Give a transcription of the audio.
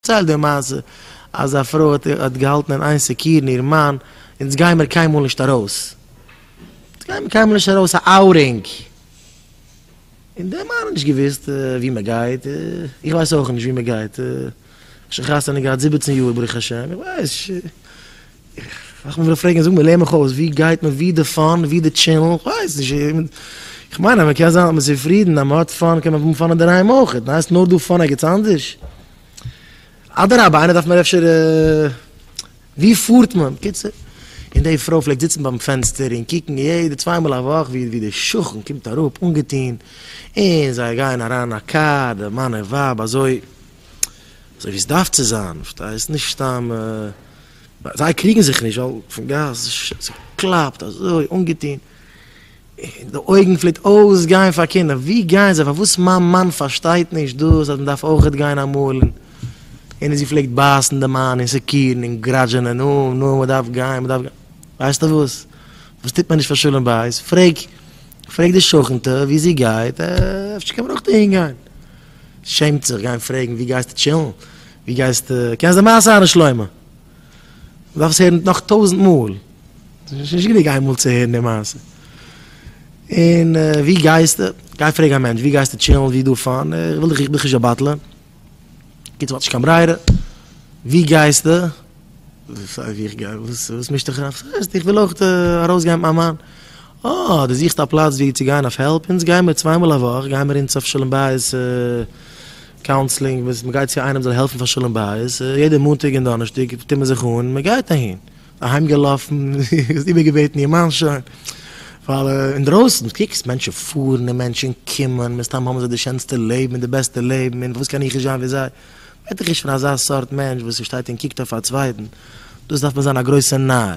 פארצייל די מעשה אז א פרוי האט האט געהאלטן אין איין סעקירן איר מאן, אונז גיי מיר קיינמאל נישט ארויס, אונז גיי מיר קיינמאל נישט ארויס א אאוטינג, און די מאן האט נישט געוויסט ווי מען גייט, איך ווייס אויך נישט ווי מען גייט, איך האב שוין חתונה געהאט זיבעצן יאר ברוך השם, איך ווייס ש. איך וויל פרעגן זאג מיר לער מיך אויס ווי גייט מען ווי די פאן ווי די טשענעל איך ווייס נישט איך מיין אז מען קען זיין אז מען איז צופרידן אז מען האט פאן קען מען האבן פאן אינדערהיים אויך און הייסט נאר דא פאן ערגעץ אנדערש אדרבה איינער דארף מיר אפשר ווי פארט מען בקיצור און די פרוי פלעגט זיצן ביים פענסטער און קוקן יעדע צוויי מאל א וואך ווי ווי די שכן קומט אראפ אנגעטון און זיי גייען אריין אין א קאר די מאן און ווייב אזוי. אזוי ווי עס דארף צו זיין, פארשטייסט? נישט סתם זיי קריגן זיך נישט ווייל פון גאס ס'קלאפט אזוי אנגעטון און די אויגן פלעגט אויסגיין פאר קינדער, ווי גייען זיי? פארוואס מיין מאן פארשטייט נישט דאס אז מען דארף אויך גיין אמאל און זי פלעגט בייסן די מאן און סעקירן און גראדזשענען נו נו מען דארף גיין מען דארף גיין, ווייסטע וואס? וואס טוט מען נישט פאר שלום בית? פרעג פרעג די שכנ'טע ווי זי גייט אפשר קען מען אויך אהין גיין. שעמט זיך גיין פרעגן ווי גייסטו טשילן? ווי גייסטו? קענסט די מעשה אהרן שלמה? מ'דארף עס הערן נאך טויזנט מאל, ס'איז נישט גענוג איין מאל צו הערן די מעשה. און ווי גייסטו? גיי פרעג א מענטש ווי גייסטו טשילן? ווי איז דא פאן? איך וויל דיך, איך בין דיך נישט א באטלער. קיצור מ'האט נישט קיין ברירה. ווי גייסטו? סיי ווי איך גיי, וואס מישט דיך אריין? וואס הייסט? איך וויל אויך ארויסגיין מיט מיין מאן. אה, דו זוכסט א פלאץ וואו צו גיין אויף העלפ? אונז גייען מיר צוויי מאל א וואך גייען מיר אונז אויף שלום בית קאונסלינג, וואס מען גייט צו איינעם זאל העלפן פאר שלום בית, יעדע מאנטאג און דאנערשטאג טוט מען זיך אן, מען גייט אהין. אהיימגעלאפן, האסט איבערגעבעטן איר מאן שוין? ווייל אינדרויסן קוקסט מענטשן פארן און מענטשן קומען, מסתם האבן זיי די שענסטע לעבן און די בעסטע לעבן, און וואס קען איך נישט זיין ווי זיי? בעט איך נישט פון אזא סארט מענטש וואס שטייט און קוקט אויף א צווייטן, דאס דארף מען זיין א גרויסע נאר.